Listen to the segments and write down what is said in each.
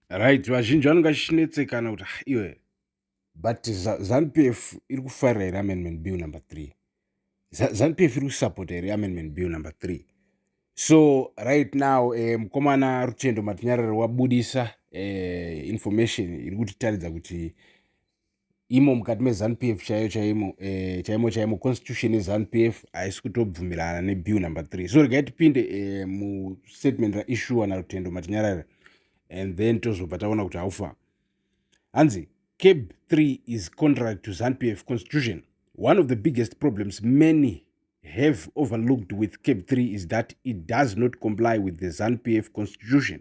Right, vazhinji vanenge vachinetsekana kuti ah, iwe but ZanuPF iri kufarira here amendment bill number three? ZanuPF iri kusapota here amendment bill number three? So right now eh, mukomana Rutendo Matinyarara wabudisa eh, information iri kutitaridza kuti imo mukati mezanu p f chaiyo chaimo eh, chaimo chaimo constitution yezanu p f haisi kutobvumirana nebill number three so regai tipinde eh, mustatement raishuwa narutendo matinyarara and then tozobva taona kuti haufa hanzi cab three is contrary to zanu p f constitution one of the biggest problems many have overlooked with cab three is that it does not comply with the zanu p f constitution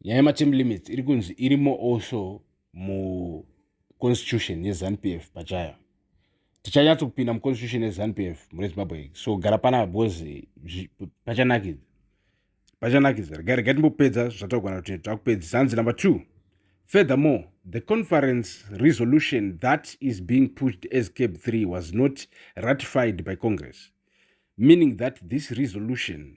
nyaya yematerm limits iri kunzi irimo also muconstitution yezanup f pachayo tichanyatso kupinda muconstitution yezanup f mune zimbabwe so gara panapa because pachanakidza pachanakidza regai regai timbopedza zvataugana kuti takupedzisa hanzi number two furthermore the conference resolution that is being pushed as cab three was not ratified by congress meaning that this resolution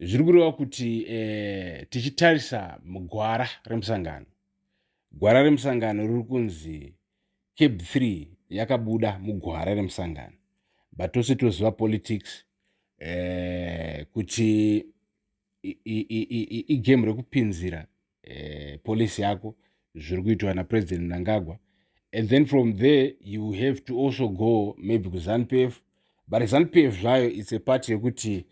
zviri kureva kuti eh, tichitarisa mugwara remusangano gwara remusangano riri kunzi cab 3 yakabuda mugwara remusangano but tose toziva politics eh, kuti igame rekupinzira uh, policy yako zviri kuitwa napresident mnangagwa and then from there you have to also go maybe kuzanu p f but zanu p f zvayo its a party yekuti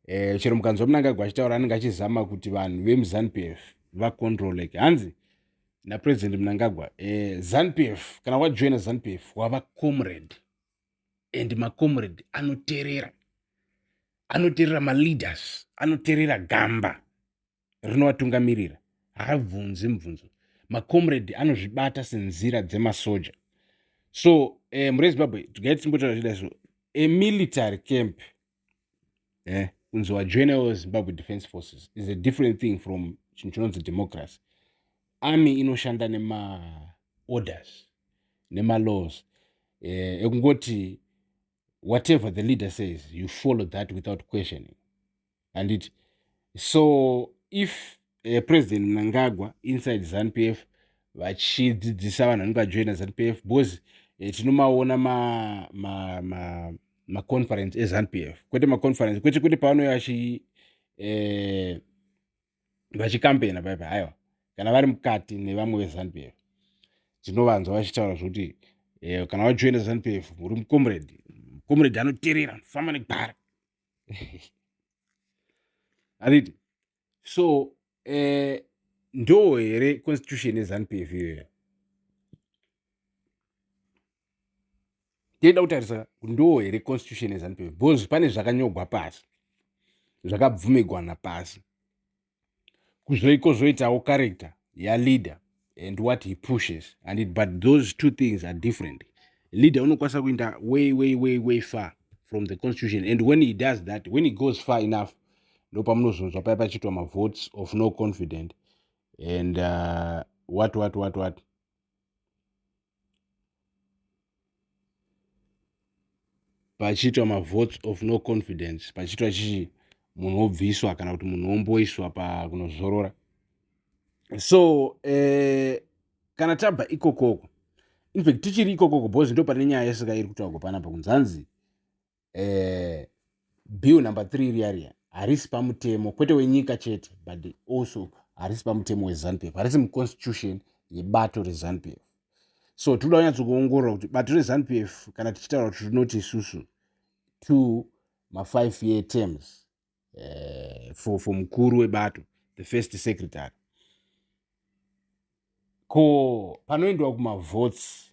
um chero mukanzwa mnangagwa achitaura anenge achizama kuti vanhu vemuzanu p f vacontroleke hanzi napresident mnangagwa eh, zanu p f kana wajoina zanu p f wava comrade and macomrade anoterera anoterera maleaders anoterera gamba rinovatungamirira haabvunzi mubvunzo macomrade anozvibata senzira dzemasoja so eh, mure zimbabwe tigai tisimbotaura zvida so a military camp eh, kunzi wajoinawo zimbabwe defense forces is a different thing from chinhu chinonzi democracy army inoshanda nemaorders nemalaws eh, ekungoti whatever the leader says you follow that without questioning handiti so if uh, president mnangagwa inside zanp f vachidzidzisa vanhu vanenge vajoina zanp f because uh, tinomaona maconference ma, ma, ma, ma ezanp f kwete maconference kwete kwete pavanouya vachi eh, vachikampena paipa haiwa kana vari mukati nevamwe vezanp f tinovanzwa vachitaura zvokuti eh, kana wajoina zanp f uri mucomrade mucomrade anoterera famba negwara handiti so eh, ndoo here constitution yezanup f iyoya tinoda kutarisa ndoo here constitution yezanup f because pane zvakanyogwa pasi zvakabvumigwana pasi kuzoiko zvoitawo character yaleader and what he pushes and it, but those two things are different leader unokwanisa kuinda way way way way far from the constitution and when he does that when he goes far enough ndopamunozonzwa paya pachiitwa mavotes of no confident and uh, what what what what pachiitwa mavotes of no confidence pachiitwa chii munhu wobviswa kana kuti munhu womboiswa pakunozorora so eh, kana tabva ikokoko infact tichiri ikokoko bhozi ndo pane nyaya yesaka iri kutaurwa panapa kunzanzi eh, bill number three riya riya harisi pamutemo kwete wenyika chete but also harisi pamutemo wezanupf harisi muconstitution yebato rezanupf so tinoda kunyatsokuongorora kuti bato rezanupf kana tichitaura kuti rinoti isusu to mafive year terms uh, for, for mukuru webato the first secretary ko panoendiwa kumavotes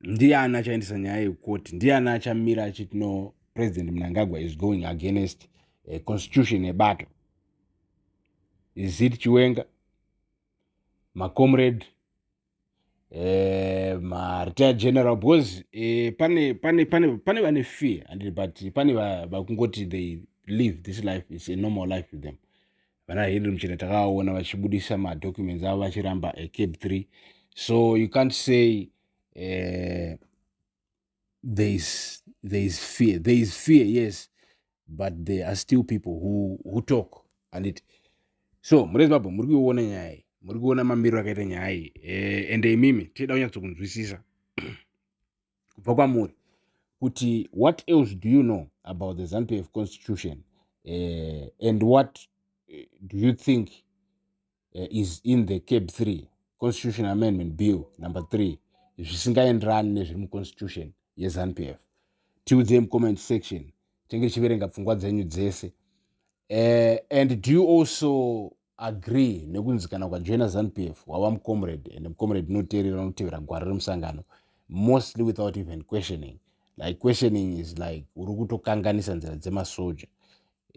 ndiani achaendesa nyaya yekukoti ndiani achamira achiti no president mnangagwa is going against a constitution yebato is it chiwenga macomrade eh, maretired general because eh, pane pane pane pane vane fear and but pane vakungoti they live this life is a normal life to them vana henry muchena takavaona vachibudisa madocuments avo vachiramba a cab 3 so you can't say uh, there is there is fear there is fear yes but there are still people who, who talk and it so muri zimbabwe muri kuiona nyaya iyi muri kuona mamiriro akaita nyaya iyi eh, ende imimi tichida kunyatsokunzwisisa kubva kwamuri kuti what else do you know about the zanupf constitution uh, and what eh, do you think uh, is in the cab 3 constitution amendment bill number 3 zvisingaenderani nezviri muconstitution yezanupf tiudzei mucomment section tenge tichiverenga pfungwa dzenyu dzese uh, and do you also agree nekunzi kana ukajoina zanupf wava mucomrade and mucomrade unoteerera unotevera gwara remusangano mostly without even questioning like questioning is like uri kutokanganisa nzira dzemasoja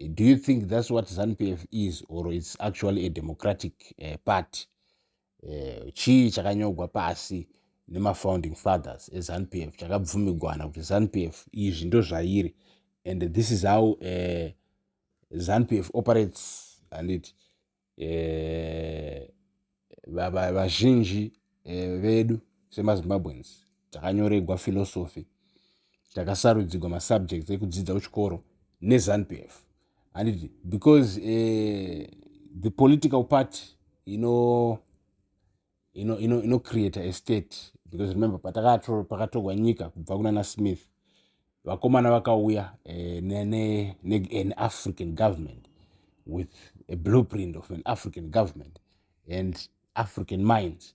do you think thats what zanupf is or its actually a democratic uh, party eh, chii chakanyogwa pasi nemafounding fathers ezanup f chakabvumigwana kuti zanup f izvi ndozvairi and this is how uh, eh, zanup f operates handiti eh, vazhinji eh, vedu semazimbabweans takanyoregwa philosophy takasarudzigwa masubjects ekudzidza kuchikoro nezanupf handiti because uh, the political party ino ino ino ino create a state because remember pakatogwa nyika kubva kunana smith vakomana vakauya eh, nean african government with a blueprint of an african government and african minds